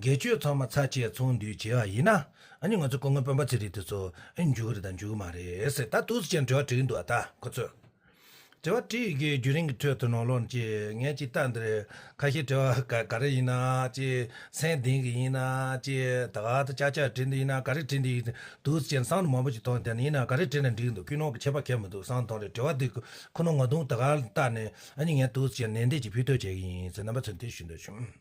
དགེ་སྤྱོད་ཚང་མ་ཚ་བཅས་ཚོང་འདུས་བྱེད་པ་ཡིན་ན། ནི་ང་ཚོ་སྐུ་ངོ་དཔོན་པ་ཚེ་རིང་དེ་ཚོ་འཇུག་གི་རེད་དང་འཇུག་གི་མ་རེད། ད་ཐུགས་གཟིགས་ཅན་དྲི་བ་དྲིས་ཀྱི་འདུག་ཨ་ད་ཁོ་ཚོས། དྲི་བ་དྲིས་ཀྱི་རྒྱུན་རིང་གི་ཁྲོད་དུ་ནོར་ལོག་ཅིག་ངས་ཅིག་ལྟ་འདིར། ཁ་ཤས་དྲི་བ་ག་རེ་ཡིན་ན་ཅིག་མཚན་ལྡན་གི་ཡིན་ན་ཅིག་ད་ག་ད་ཅག་ཅག་དྲི་འདི་ཡིན་ན་ག་རེ་དྲི་འདི་ཡིན། དུགས་གཟིགས་ཅན་སང་དུ་མང་པོ་ཅིག་མཐོང་དེ་ནི་ཡིན་ན་ག་རེ་དྲི་ནས་འདྲི་གི་འདུག་ཁུལ་ནོར་གྱི་ཁྱད་པར་ཁྱད་མི་འདུག་སང་མཐོང་རེ་དྲི་བ་འདི་ཁོ་ནོར་ང་དུང་ད་ག་ལ་ལྟ་ནས་ནི་ངས་དུགས་གཟིགས་ཅན་ནན་ཏན་གྱིས་ཕུལ་ཐོས་བྱེད་ཀྱི་ཡིན་ཟེར་རྣམ་པ་ཚོས་འདི་ཞུ་འདོད་བྱུང།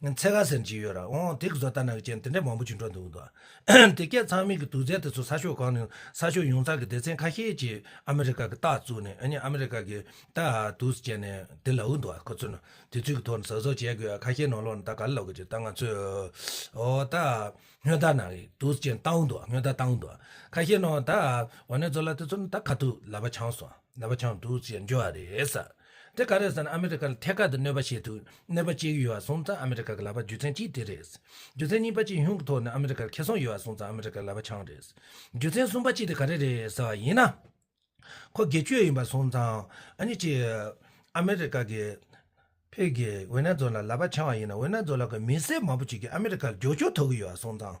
ཚེ་ག་ཟེར་གྱི་ཡོད་ར་ཨོང་དེ་གི་བཟོ་ལྟ་ན་གི་ཅན་དེ་འདྲས་མང་པོ་བྱུང་འགྲོ་འདུག་དོ། དེ་སྐད་ཚང་མིག་གི་དུག་རྫས་དེ་ཚོ་ས་ཕྱོགས་གང་ནས་ས་ཕྱོགས་ཡོངས་གཙང་གི་སྡེ་ཚན་ཁ་ཤས་ཀྱིས་ཨ་མི་རི་ཀ་གི་རྟགས་བཙུགས་ནས་ཨ་མི་རི་ཀ་གི་རྟགས་དུག་སྤྱད་ནས་དེ་ལ་འུ་འདུག་ཨ་ཁོ་ཚོས་ནོ་དེ་ཚོས་གི་ཐོག་ནས་ཟག་བཟོ་བྱས་གི་ཨ་ཁ་ཤས་ནོ་ལོག་ནས་ད་ག་ལ་ལོག་གི་ཅི་ད་ང་ཚོས་ཨོ་ད་སྔོན་རྟགས་ན་གི་དུག་སྤྱད་ནས་རྟགས་འུ་འདུག་ཨ་སྔོན་རྟགས་རྟགས་འུ་འདུག་ཨ་ཁ་ཤས་ནོ་ད་ཨོ་ནས་བཟོ་ལ་དེ་ཚོ་ནི་ད་ག་དུག་ལ་བ་ཆང་སོང་ལ་བ་ཆང་དུག་སྤྱད་ནས་འཇོ་བ་རེད་ས། དེ་ག་རེད་ཟེར་ན་ཨ་མི་རི་ཀ་ལ་ཐད་ཀར་དུ་གནོད་པ་བྱེད་ཐུབ་ནུས་པ་གཅིག་ཡོད་བ་སོང་ཙང་ཨ་མི་རི་ཀ་གི་ལག་པ་རྒྱུ་མཚན་གཅིག་དེ་རེད། རྒྱུ་མཚན་གཉིས་པ་ཅིན་ཧུང་གི་ཐོག་ནས་ཨ་མི་རི་ཀར་ཁེ་སོང་ཡོད་བ་སོང་ཙང་ཨ་མི་རི་ཀ་གི་ལག་པ་འཆང་རེད། རྒྱུ་མཚན་གསུམ་པ་གཅིག་དེ་ག་རེ་རེད་ཟེར་བ་ཡིན་ན། ཁོ་དགེ་བཅུ་ཡིན་པ་སོང་ཙང་ཨ་ནི་ཅིག་ཨ་མི་རི་ཀ་གི་བོད་ཀྱི་ཝེ་ན་རྫོ་ལ་ལག་པ་འཆང་བ་ཡིན་ན་ཝེ་ན་རྫོ་ལ་གི་མི་སེར་མང་པོ་ཅིག་གིས་ཨ་མི་རི་ཀ་ལ་རྒྱུག་ཆོག་ཐུབ་ཀྱི་ཡོད་བ་སོང་ཙང།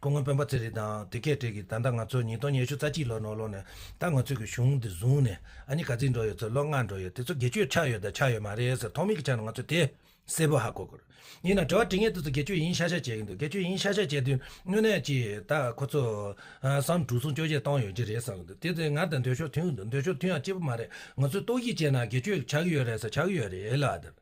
སྐུ་ངོ་སྤེན་པ་ཚེ་རིང་དང་དེ་སྐད་དྲིས་ཀྱི་ད་ལྟ་ང་ཚོ་ཉིས་སྟོང་ཉེར་བཅུ་རྩ་གཅིག་ལོ་ནོར་ལོ་ནས་ད་ང་ཚོས་ཀྱི་གཞུང་འདི་བཟུང་ནས་ཨ་ཉི་ག་རྩིས་འགྲོ་ཡོད་ཚོད་ལོ་ལྔ་འགྲོ་ཡོད་དེ་ཚོ་དགེ་ཆོས་ཆགས་ཡོད་དང་ཆགས་ཡོད་མ་རེད་ཟེར་ཐོག་མེད་ཀྱི་ཆ་ནས་ང་ཚོས་དེ་གསལ་པོ་ཧ་གོ་དགོས་རེད་ཡིན་ན་དྲི་བ་དྲི་ངེས་དེ་ཚོ་དགེ་ཆོས་ཡིན་ཤག་ཤག་བྱས་ཀྱི་འདུག་དགེ་ཆོས་ཡིན་ཤག་ཤག་བྱས་དུས་དངོས་གནས་ཀྱིས་ད་ཁོ་ཚོ་སམ་དྲུག་སྲུང་སྐྱོབ་བྱས་གཏོང་ཡོད་ཀྱི་རེད་བསམ་གྱི་འདུག་དེ་ཚོས་ང་དང་འདོད་ཤོར་མཐུན་གྱི་འདུག་འདོད་ཤོར་མཐུན་ཡང་གཅིག་པུ་མ་རེད་ང་ཚོས་རྟོག་ཞིབ་བྱས་ན་དགེ་ཆོས་ཆགས་ཀྱི་ཡོད་རེད་ཟེར་ཆགས་ཀྱི་ཡོད་རེད་ལ་དེར་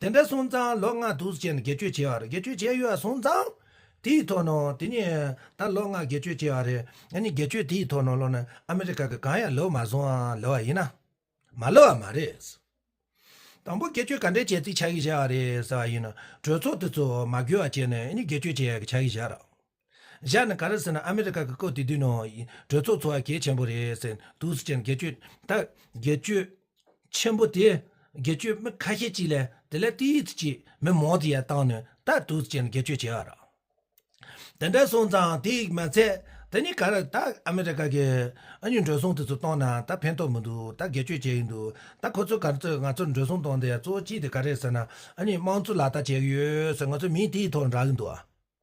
དེ་འདྲ་སོང་ཙང་ལོ་ལྔ་དུས་ཆེན་དགེ་བཅུ་བྱས་པ་རེད་དགེ་བཅུ་བྱས་ཡོད་སོང་ཙང། དེའི་ཐོག་ནང་དེ་གཉིས་ད་ལོ་ལྔ་དགེ་བཅུ་བྱས་པ་རེད་ང་གཉིས་དགེ་བཅུ་དེའི་ཐོག་ནང་ལོ་ན་ཨ་མི་རི་ཀ་གི་གང་ཡང་ལོས་མ་སོང་ཨ་ལོ་བ་ཡིན་ན། མ་ལོ་བ་མ་རེད། དང་པོ་དགེ་བཅུ་ག་འདྲའི་བྱས་རྩིས་བྱ་གི་བྱས་པ་རེད་ཟེར་བ་ཡིན་ན་གྲོས་ཚོགས་དེ་ཚོ་མ་འགུལ་བ་བྱས་ནས་ཨ་ནི་དགེ་བཅུ་བྱས་ཡག་གི་བྱ་གི་བྱ་ར། བཞག་ནི་ག་རེ་ཟེར་ན་ཨ་མི་རི་ཀ་གི་བཀོད་དེ་དུས་ནང་གྲོས་ཚོགས་འཚོ་བ་གལ་ཆེན་པོ་རེད་ཟེར་འདུག་སུ་ཅི་ཡང་དགེ་བཅུ་ད་དགེ་བཅུ་ཆེན་པོ་དེ་དགེ་བཅུ་མི་ཁ་ཤས་ཅིག་ལས་དེ་ལས་ཏིས་ཏི་ཅིག་མི་མང་དེ་ཡང་བཏང་ནས་ད་དུས་སུ་ཅི་ཡང་དགེ་བཅུ་བྱས་ཨ་ར་དེ་འདྲ་སོང་ཙང་དེ་ཡིག་མ་ཚད་དེ་ནི་ག་རེ་ད་ཨ་མི་རི་ཀ་གི་ཨ་མྱུས་འགྲོ་སོང་དེ་ཚོ་བཏང་ན་ད་ཕན་ཐོག་མི་འདུག་ད་དགེ་བཅུ་བྱས་ཡིན་འདུག་ད་ཁོ་ཚོ་ག་ཚོད་ང་ཚོར་འགྲོ་སོང་བཏང་དེ་གཙོ་བོ་ཅི་དེ་ག་རེ་ཟེར་ན་ཨ་མྱུས་དམངས་གཙོ་ལག་བསྟར་བྱས་ཡོད་ཟེར་ང་ཚོ་མིས་དེའི་ཐོག་རག་གི་འདུག་ཨ།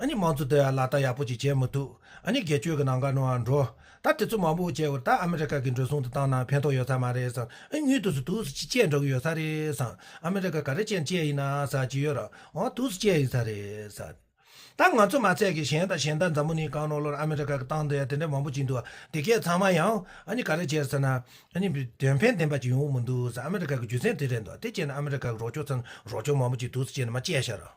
ཨ་ནི་དམངས་གཙོ་དེ་ལག་བསྟར་ཡག་པོ་ཅིག་བྱེད་མི་ཐུབ། ཨ་ནི་སྒེར་གཅོད་ཀྱི་ནང་དགའ་ནོར་འང་འགྲོ། ད་དེ་ཚོ་མང་པོ་བྱས་བར་ད་ཨ་མི་རི་ཀ་གི་འགྲོ་སོང་དུ་བཏང་ན་ཕན་ཐོག་ཡོད་ས་མ་རེད་བསམ། ཨི་མྱུལ་དུ་སུ་དུག་སུ་ཅི་བཅད་འགྲོ་གི་ཡོད་ས་རེད་བསམ། ཨ་མི་རི་ཀ་ག་རེ་ཅན་བཅད་ཡིན་ན་ཟ་ཅི་ཡོད་རང་དུག་སུ་བཅད་ཡིན་ས་རེད་བསམ། ད་ང་ཚོ་མ་ཚད་ཀྱི་གཞན་དང་གཞན་དག་མཛའ་མོ་ནི་གང་ནོར་ལོར་ཨ་མི་རི་ཀ་གི་བཏང་དེ་དེ་འདྲ་མང་པོ་ཅིག་འདུག་དེ་སྐད་ཚང་མ་ཡང་ཨ་ནི་ག་རེ་བྱས་ཟེར་ན། ཨ་ནི་དོན་ཕན་ལྡན་པ་ཅིག་ཡོང་གི་མི་འདུག་བསམ་ཨ་མི་རི་ཀ་གི་རྒྱུ་མཚན་དེ་རེད་འདུག་དེ་བྱས་ན་ཨ་མི་རི་ཀ་གི་རོགས་སྐྱོར་ཚན་རོགས་སྐྱོར་མང་པོ་ཅིག་དུག་སུ་བཅད་ནས་མ་བཅད་ཤར།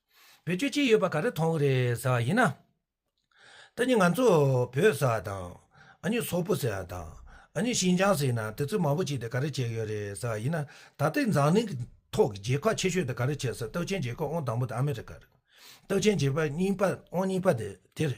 བོད་ཆོས་ཅི་ཡོད་པ་ག་རེ་མཐོང་གི་རེད་ཟེར་བ་ཡིན་ན། ད་ནི་ང་ཚོ་བོད་ཟེར་བ་དང། ཨ་ནི་སོག་པོ་ཟེར་བ་དང། ཨ་ནི་ཤིན་ཅང་ཟེར་ན་དེ་ཚོས་མང་པོ་བྱས་ཏེ་ག་རེ་བྱས་ཡོད་རེད་ཟེར་བ་ཡིན་ན། ད་ལྟའི་འཛམ་གླིང་གི་ཐོག་གི་རྒྱལ་ཁག་ཆེ་ཤོས་དེ་ག་རེ་བྱས་ཟེར་སྟག་ཆེན་རྒྱལ་ཁབ་ཨང་དང་པོ་དེ་ཨ་མི་རི་ཀ་རེད། སྟག་ཆེན་རྒྱལ་ཁབ་གཉིས་པ་ཨང་གཉིས་པ་དེ་རེད།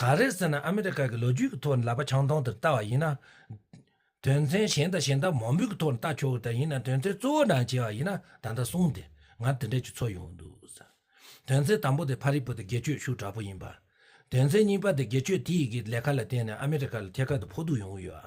ག་རེད་ཟེར་ན་ཨ་མི་རི་ཀ་གི་ལོ་རྒྱུས་ཀྱི་ཐོག་ནས་ལག་པ་ཆང་འཐུང་དེར་ལྟ་བ་ཡིན་ན། དོན་ཚན་གཞན་དང་གཞན་དག་མང་པོའི་ཐོག་ནས་ལྟ་ཆོག་གི་དེ་ཡིན་ན་དོན་ཚན་གཙོ་བོ་ནང་བྱས་པ་ཡིན་ན་ད་ལྟ་གསུངས་ཏེ་ང་དེ་འདྲས་ཀྱི་ཚོ་ཡོང་གི་འདུག་ཟེར། དོན་ཚན་དང་པོ་དེ་ཕ་རིག་པོ་དེ་སྒེར་གཅོད་ཤུགས་དྲག་པོ་ཡིན་པ། དོན་ཚན་གཉིས་པ་དེ་སྒེར་གཅོད་དེ་ཡི་གི་ལས་ཀ་ལ་བརྟེན་ནས་ཨ་མི་རི་ཀ་ལ་ཐད་ཀར་དུ་ཕོག་ཐུག་ཡོང་གི་ཡོད།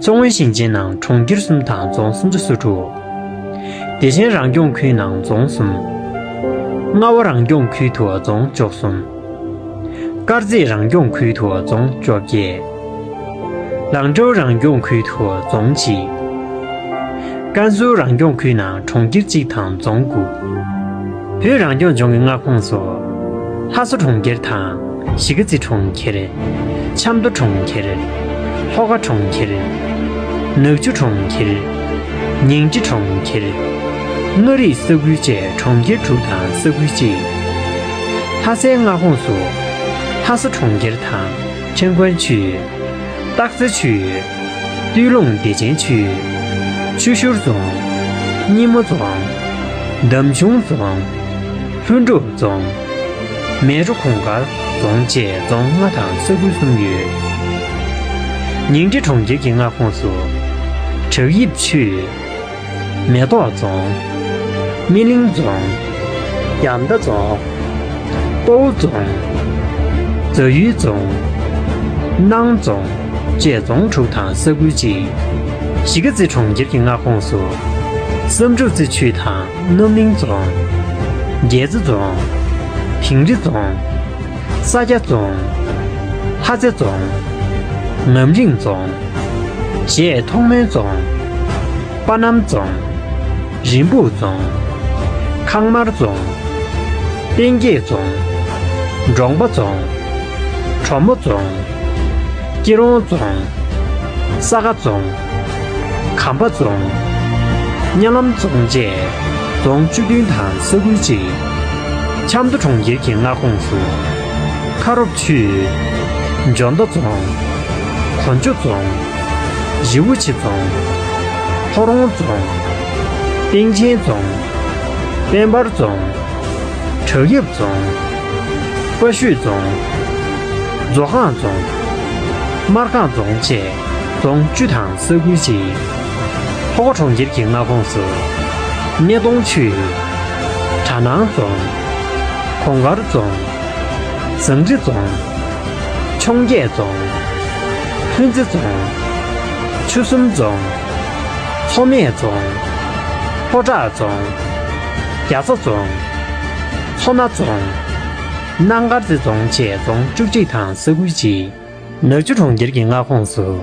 མཚོ་སྔོན་ཞིང་ཆེན་ནང་གྲོང་ཁྱེར་གསུམ་དང་རྫོང་སུམ་ཅུ་སོ་དྲུག། བདེ་ཆེན་རང་སྐྱོང་ཁུལ་ནང་རྫོང་གསུམ། རྔ་བ་རང་སྐྱོང་ཁུལ་དུ་རྫོང་བཅོ་གསུམ། དཀར་མཛེས་རང་སྐྱོང་ཁུལ་དུ་རྫོང་བཅོ་བརྒྱད། ལང་ཀྲའུ་རང་སྐྱོང་ཁུལ་དུ་རྫོང་གཅིག། ཀན་སུའུ་རང་སྐྱོང་ཁུལ་ནང་གྲོང་ཁྱེར་གཅིག་དང་རྫོང་དགུ། བོད་རང་སྐྱོང་ལྗོངས་ཀྱི་མངའ་ཁོངས་སུ། ལྷ་ས་གྲོང་ཁྱེར་དང། གཞིས་ཀ་རྩེ་གྲོང་ཁྱེར། ཆབ་མདོ་གྲོང་ཁྱེར། ལྷོ་ཁ་གྲོང་ཁྱེར། ནག་ཆུ་གྲོང་ཁྱེར། ཉིང་ཁྲི་གྲོང་ཁྱེར། མངའ་རིས་ས་ཁུལ་བཅས་གྲོང་ཁྱེར་དྲུག་དང་ས་ཁུལ་གཅིག་ཡོད། ལྷ་སའི་མངའ་ཁོངས་སུ། ལྷ་ས་གྲོང་ཁྱེར་དང། ཁྲེང་ཀོན་ཆུས་ཡོད། སྟག་རྩེ་ཆུས་ཡོད། སྟོད་ལུང་བདེ་ཆེན་ཆུས། ཆུ་ཤུར་རྫོང། སྙེ་མོ་རྫོང། འདམ་གཞུང་རྫོང། ལྷུན་གྲུབ་རྫོང། མལ་གྲོ་གུང་དཀར་རྫོང་བཅས་རྫོང་ལྔ་དང་ས་ཁུལ་གསུམ་ཡོད། ཉིང་ཁྲི་གྲོང་ཁྱེར་གྱི་མངའ་ཁོངས་སུ། བྲག་ཡིབ་ཆུས། མེ་ཏོག་རྫོང། སྨིན་གླིང་རྫོང། རྒྱ་མདའ་རྫོང། སྤོ་བོ་རྫོང། རྫ་ཡུལ་རྫོང། སྣང་རྫོང་བཅས་རྫོང་དྲུག་དང་ས་ཁུལ་གཅིག། གཞིས་ཀ་རྩེ་གྲོང་ཁྱེར་གྱི་མངའ་ཁོངས་སུ། བསམ་གྲུབ་རྩེ་ཆུས་དང་རྣམ་གླིང་རྫོང། རྒྱལ་རྩེ་རྫོང། དིང་རི་རྫོང། ས་སྐྱ་རྫོང། ལྷ་རྩེ་རྫོང། ངམ་རིང་རྫོང། བཞད་མཐོང་མོན་རྫོང། པ་སྣམ་རྫོང། རིན་སྤུངས་རྫོང། ཁང་དམར་རྫོང། སྟེང་སྐྱེས་རྫོང། འབྲོང་པ་རྫོང། གྲོ་མོ་རྫོང། སྐྱིད་རོང་རྫོང། ས་དགའ་རྫོང། གམ་པ་རྫོང། གཉའ་ལམ་རྫོང་བཅས་རྫོང་བཅུ་བདུན་དང་ས་ཁུལ་གཅིག། ཆབ་མདོ་གྲོང་ཁྱེར་གྱི་མངའ་ཁོངས་སུ། ཁ་རོབ་ཆུས། འཇོ་མདའ་རྫོང། གོ་འཇོ་རྫོང། རི་བོ་ཆེ་རྫོང། ལྷོ་རོང་རྫོང། སྟེང་ཆེན་རྫོང། དཔལ་འབར་རྫོང། བྲག་ཡབ་རྫོང། དཔའ་ཤོད་རྫོང། མཛོ་སྒང་རྫོང། སྨར་ཁང་རྫོང་བཅས། རྫོང་བཅུ་དང་ས་ཁུལ་གཅིག། ལྷོ་ཁ་གྲོང་ཁྱེར་གྱི་མངའ་ཁོངས་སུ། སྣེ་གདོང་ཆུས། གྲ་ནང་རྫོང། གོང་དཀར་རྫོང། ཟངས་རི་རྫོང། འཕྱོངས་རྒྱས་རྫོང། ལྷུན་རྩེ་རྫོང། ཆུ་གསུམ་རྫོང། ལྷོ་སྨད་རྫོང། ལྷོ་བྲག་རྫོང། རྒྱ་ཚ་རྫོང། ལྷོ་སྣ་རྫོང། གནའ་མཁར་རྩེ་རྫོང་བཅས་རྫོང་བཅུ་གཅིག་དང་ས་ཁུལ་གཅིག། ནག་ཆུ་གྲོང་ཁྱེར་གྱི་མངའ་ཁོངས་སུ།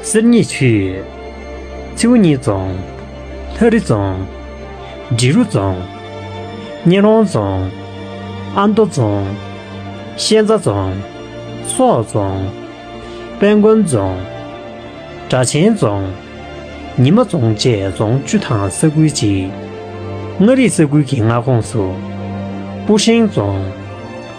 གསེར་རྙེད་ཆུས། མཚེའུ་གཉིས་རྫོང། ལྷ་རི་རྫོང། འབྲི་རུ་རྫོང། སྙན་རོང་རྫོང། ཨ་མདོ་རྫོང། ཤན་རྩ་རྫོང། སོག་རྫོང། དཔལ་མགོན་རྫོང། སྦྲ་ཆེན་རྫོང། ཉི་མ་རྫོང་བཅས་རྫོང་བཅུ་དང་ས་ཁུལ་གཅིག། མངའ་རིས་ས་ཁུལ་གྱི་མངའ་ཁོངས་སུ། སྤུ་ཧྲེང་རྫོང།